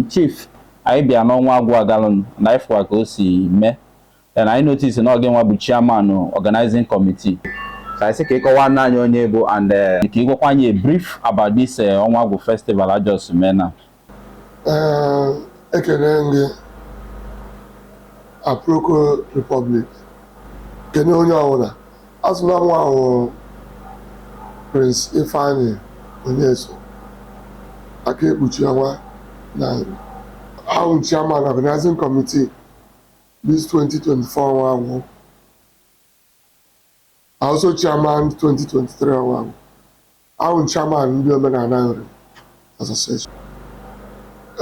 Chief, anyị bịa n'ọnwa agwụ agalụnụ na anyị fụkwa ka o si mee and anyị notice na ọ gịnwa bụ chairman organizing committee so anyị sị ka ị kọwaara anyị onye ị bụ and eh, ka ị gwakwa anyị a brief about this eh, ọnwa agwụ festival a just mee na Ee, ekene m gị Aproko Republic kene onye ọbụla A sị na mụwa wụ Prince Ifeanyi Onyesoh aka ekpuchi ọnwa na Nri. Awụ m Chairman Organizing Committee this 2024 ọnwa agwụ. Also Chairman 2023 ọnwa agwụ. Awụ m chairman ndị Omenala Nri Association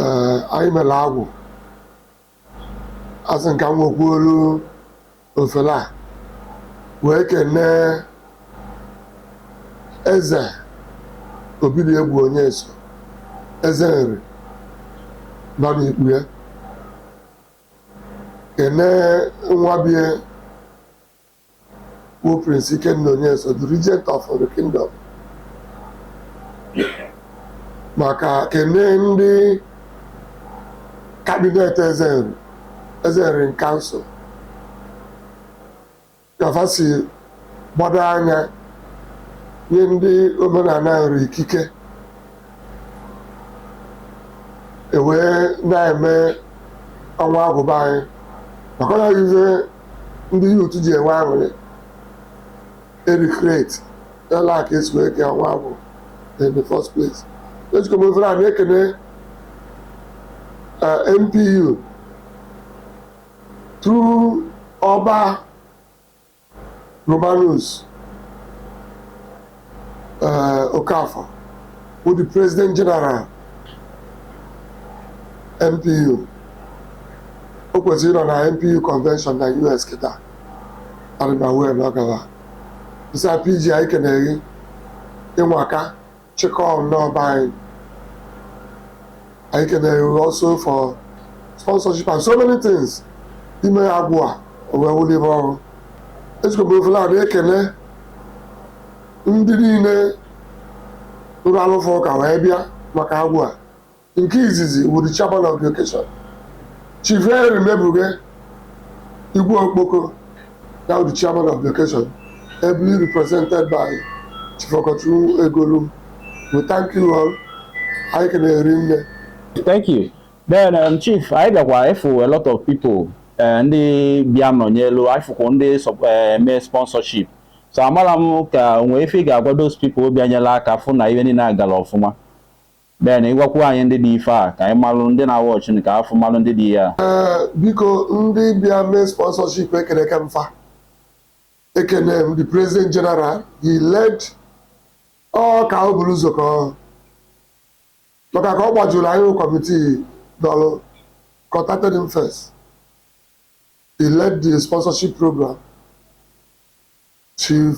ee anyị mere agwụ asị m ka m wekwuolu ofele a wee kenee Eze Obidiegwu Onyesoh Eze Nri nọ n'ikpu ya kenee nwa bie bụ Prince Ikenna Onyesoh the regent of the kingdom maka kene ndị cabinet Eze Nri Eze Nri in Council ka fa si gbado anya nye ndị omenala Nri ikike e wee na-eme ọnwa agwụ be anyị maka na ife ndị youth ji enwe aṅụrị e recreate like e si wee kee ọnwa agwụ in the first place ejikwa m ofere a na-ekene eh, NPU through Ọba Romanus eh, Okafor bụ the president general NPU o kwesịrị ịnọ na NPU convention na US kịta adịbawe na ọgaba isi PG anyị kene gị ị nwaka chịkọọ nnọọ be anyị anyị kene gị also for sponsorship and so many things i mee agwụ a wee wụlụ ife ọ wụ ejikwa m ofele a na-ekene ndị niile rụrụ arụ fa ụka wee bịa maka agwụ a nke izizi wụ the chairman of the occasion Chief Henry Mebuge Igwe Okpoko Now the chairman of the occasion, ably represented by Chief Okechukwu Egolum, we thank you all. Anyị kenere unu. Thank you. Then um, Chief, anyị bịakwa ịfụ a lot of people eh, ndị bịa nọnyelu anyị fụkwa ndị sọp- eh, mee sponsorship so amara m ka o nwee ife ị ga-agwa those people bịa nyela aka fụ na ihe niile gara ọfụma Ben, ị gwakwuo anyị ndị dị ife a ka anyị malụ ndị na-awa ọchị nke afọ malụ ndị dị ya. Ee, biko ndị bịa mee sponsorship ekeneka m fa ekene m the president general he led ọ ka o buru ụzọ kọọ maka ka ọ gbajuru anyị bụ kọmitii dọlụ contacted him first he led the sponsorship program chief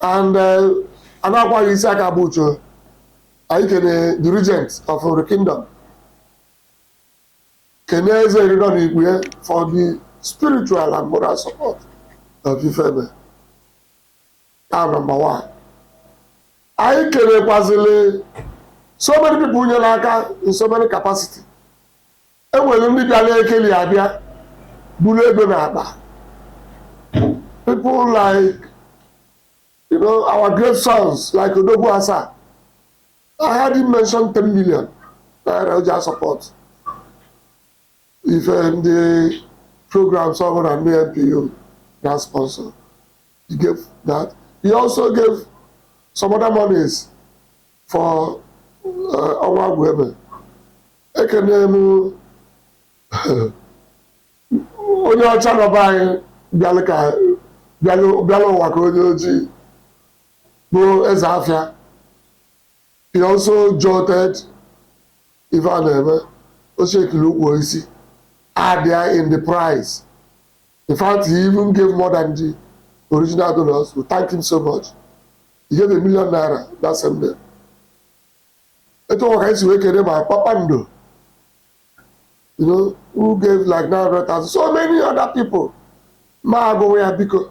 and Anakwa isi aka bụ uche anyị kene the regent of Nri kingdom kene eze Nri dọ n'ikpe for the spiritual and moral support of ifeme a number one anyị kenekwazili so many people nyere aka in so many capacity E nwelụ ndị bịalụ ekeli abịa buru ego na akpa people like you know our great sons like odogwu asa I heard him mention 10 million naira o ji support ife ndị programs ọ bụla ndị NPU na-sponsor he gave that he also gave some other monies for uh, Ọnwa Agwụ eme. Ekene m onye ọcha nọ be anyị bịalụ ka bịalụ bịalụ ụwa ka onye ojii bụ eze afịa. He also supported ife a na-eme o shekiri ukwu isi adịa in the price In fact, he even gave more than the original donors. We thank him so much. He gave a million naira that same day. Etu ọkwa ka anyị si wee kere ma kpakpando, you know, who gave like 900,000, so many other people. Ma agụnwe ya biko.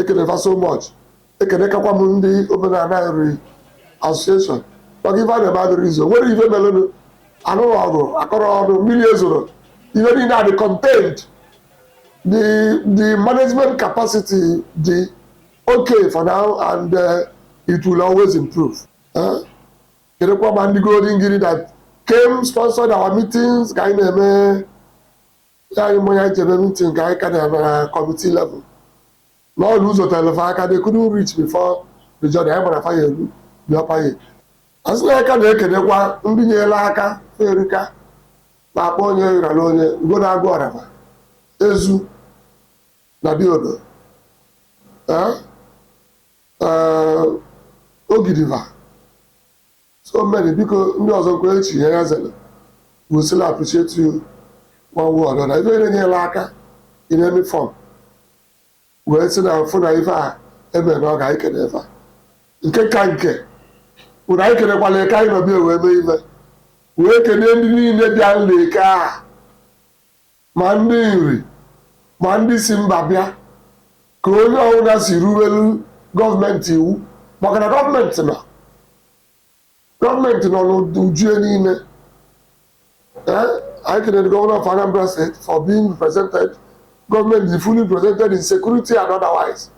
ekene fa so much ekenekwa m ndị omenana Nri association maka ife a na-eme adịrọ easy o nwerọ ife melụnụ anụrọ ọgụ akọrọ ọnụ mmili ezorọ ife niine adị contained the the management capacity dị okay for now and uh, it will always improve eh? kenekwa ma ndị Golden Guinea that came sponsored our meetings ka anyị na-eme nye anyị mmanya n'ebe mitin nke anyị ka na-eme na kọmiti level na ọ bụ ụzọ telụ fa aka they couldn't reach before the journey anyị gbara faya elu dị ọpaye asị na aka na-ekenekwa ndị nyelụ aka fa erika na-akpọ onye rara onye ugo na-agụ ọraba ezu na Diodo ee ee ogidiva So many biko ndị ọzọ nkwenye chi ihe ya zere we still appreciate you one way or another ife niine nyelụ aka in any form wee sị na mfụ na ife a eme na ọ ga anyị kene fa nke ka nke bụ na anyị kenekwalụ Eke anyị nọ be ya wee mee ife wee kenee ndị niine bịalụ Eke a ma ndị Nri ma ndị si mba bịa, ka onye ọbụla si rubelu gọọmenti iwu maka na gọọmenti nọ gọọmenti nọ n'uju ebe niile. Eh, anyị kenee governor of Anambra State for being represented, government is fully represented in security and otherwise.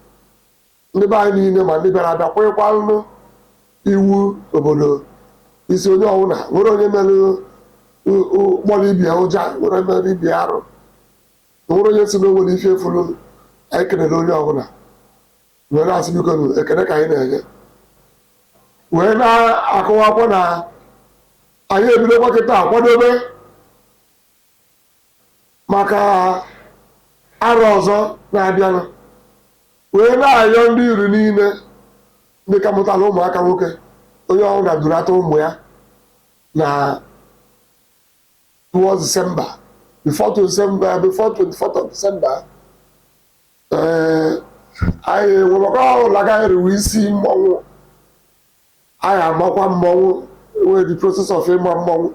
Ndị be anyị niile ma ndị bịara abịa kwekwalụ iwu obodo isi onye ọbụla nwerọ onye mere ụ- ụ- gbọrọ ibe ya ụja nwerọ onye merụ ibe ya arụ nwerọ onye sị na o nwere ife efulu anyị kelere onye ọbụla wee na-asị bikonụ ekele ka anyị na-enye wee na-akọwakwa na anyị ebidokwa kịta kwadobe maka arọ ọzọ na-abịanụ wee na-ayọ ndị Nri niile ndị ka mụtara ụmụaka nwoke onye ọbụla durata ụmụ ya na towards December before to December before 24th of December ee anyị nwere ọkọ ọhụrụ a ga-eriwe isi mmọnwụ Anyị amakwa mmọnwụ wee the process of ịma mmọnwụ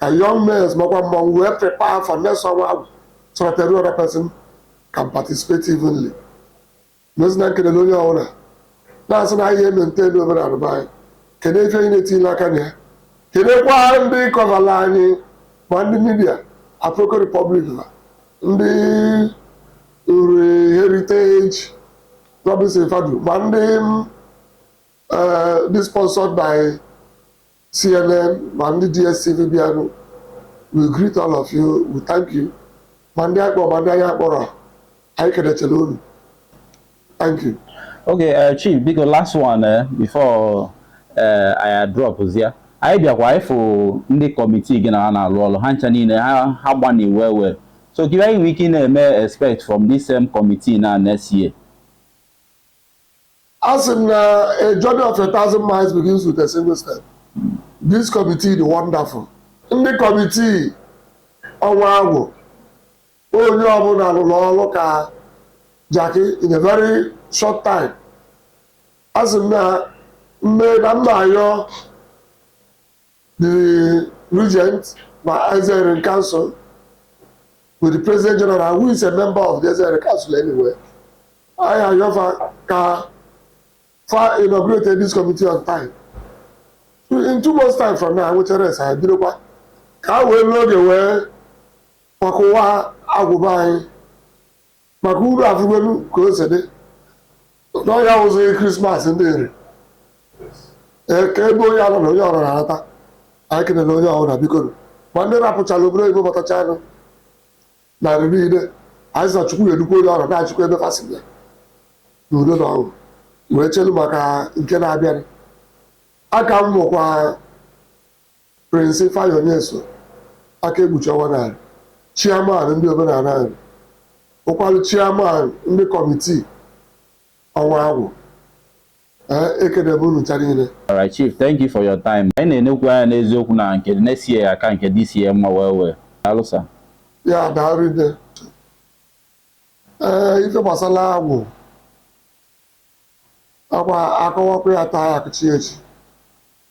ka young males makwa mmọnwụ wee prepare for next ọnwa agwụ so that every other person can participate evenly. Nọzi na-ekele onye ọbụla na-asị na anyị maintain omenala be anyị kedu ife anyị na-etinyela aka na ya kenekwa ndị kọvala anyị ma ndị midia Afroko Republic na ndị Nri heritage Robinson Fadu ma ndị uh, dị sponsored by CNN ma ndị DSTV bịanụ we greet all of you we thank you ma ndị akpọ ma ndị anyị akpọrọ anyị kenechara unu thank you okay uh, chief biko last one uh, before uh, I drop zia anyị bịakwa ịfụ ndị kọmitii gị na ha na-alụ ọlụ ha ncha niile ha gbanị well well so gịnị ka anyị nwee ike ị na-eme expect from this same committee na next year Asị m na a journey of a thousand miles begins with a single step. This committee dị wonderful. Ndị kọmitii ọnwa agwụ, onye ọbụla rụrụ ọrụ ka jakị in a very short time. Asị m na mme na mma ayọ The regent na Ezeirin Council with the President General who is a member of the Ezeirin Council anyway. I am your fa- ka fa inaugurated this committee on time. So in two months time from now, which arrest I did kwa ka we load away kwa kwa agwụba anyị maka unu afụgolu ka o si dị na ọ ya wụzị krismas ndị Nri ka ebe onye nọ na onye ọbụla anata anyị kenere onye ọbụla bikonu ma ndị rapụchara obodo oyibo batachanụ na Nri niile anyị sị na chukwu ga-edukwa onye ọbụla nachikwa ebe fa si bịa na udo na ọṅụ wee chelu maka nke na-abịanụ afa m bụkwa Prince Ifeanyi Onyesoh, aka ekpuchi ọnwa na Nri, Chairman ndị omenala Nri, bụkwalụ Chairman ndị kọmitii ọnwa agwụ. Ee, ekene m unu ncha niile. Alright Chief, thank you for your time. Anyị na-enekwu anya n'eziokwu na nke next year aka nke this year mma well well. Daalụ sir. Ya daalụ nne. Ee, ife gbasara agwụ akwa akọwakwa ya taa akụchi echi.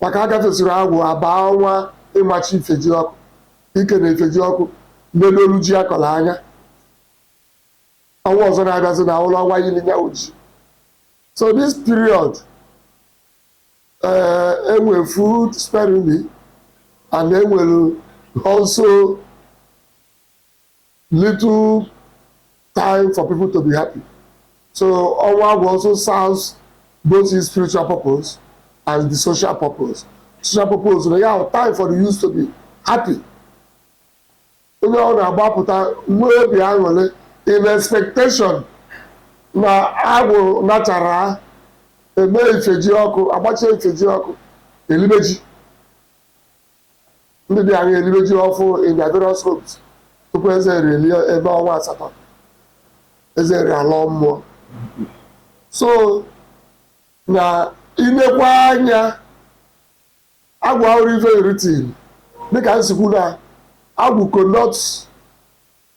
Maka a gafesịrị agwụ a baa ọnwa ịmachi Ifejiọkụ, ikene Ifejiọkụ nedoru ji a kọrọ anya. Ọnwa ọzọ na-abịazị na awụrụ ọnwa ili nya wụ ji. So this period eh, e nwere food sparingly and e nwere also Little time for people to be happy. So ọnwa agwụ also serves both the spiritual purpose and the social purpose. Social purpose na ya time for the youth to be happy. Onye ọ na-agbapụta nwee obi aṅụrị in expectation na agwụ nachaa e mee Ifejiọkụ a gbachie Ifejiọkụ e libe ji Ndị dị anya elibe ji ọfụ in their various homes tupu Eze Nri elie ebe ọnwa asatọ, Eze Nri alọọ mmụọ. So na i nekwaa anya agwụ awụrụ everything dịka m si kwu na agwụ connotes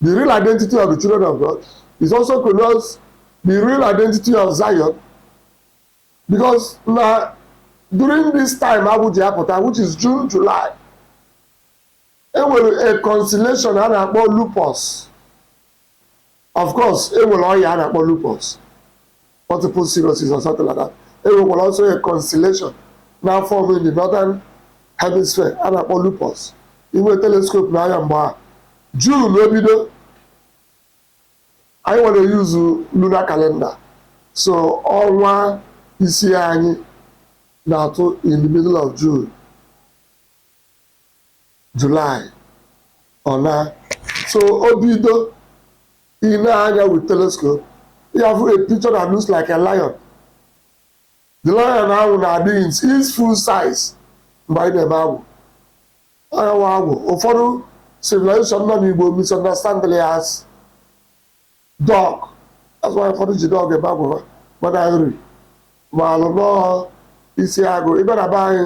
the real identity of the children of God. It also connotes the real identity of Zion. Because na during this time agwụ ji apụta which is June, July, e nwere a constellation a na-akpọ lupus. Of course, e nwere ọya a na-akpọ lupus, multiple sclerosis or something like that. E nwekwara also a constellation na-afọm in the northern hemisphere a na-akpọ lupus. I nwee telescope nee anya mgbe a June ebido Anyị nwa na-eyuzu lunar calendar, so ọnwa ise anyị na-atụ in the middle of June, July, ọ naa. So o bido i nee anya with telescope, ị ga-afụ a picture that looks like a lion. The lion ahụ na-adị in its full size mgbe anyị na-eme agwụ. Agụ a wụ agwụ ụfọdụ civilization nọ n'Igbo misunderstandịlị ya as dog. That's why ụfọdụ ji dog eme agwụ va mana Nri maalụ na ọ isi agụ. Ị bịa na be anyị,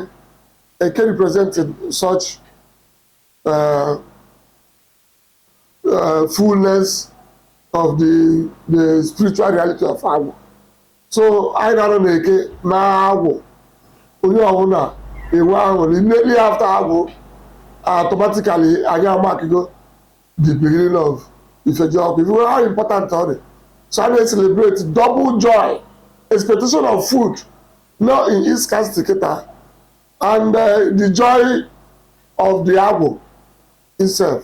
eke represented such uh, uh, fullness of the the spiritual reality of agwụ so anyị na-anọ na-eke na agwụ onye ọbụla enwe aṅụrị mmeri after agwụ automatically anyị amakigo the beginning of ifeji ọkụ if you know how important ọ dị so a na-celebrate double joy expectation of food no in east castle kịta and uh, the joy of the agwụ Isef.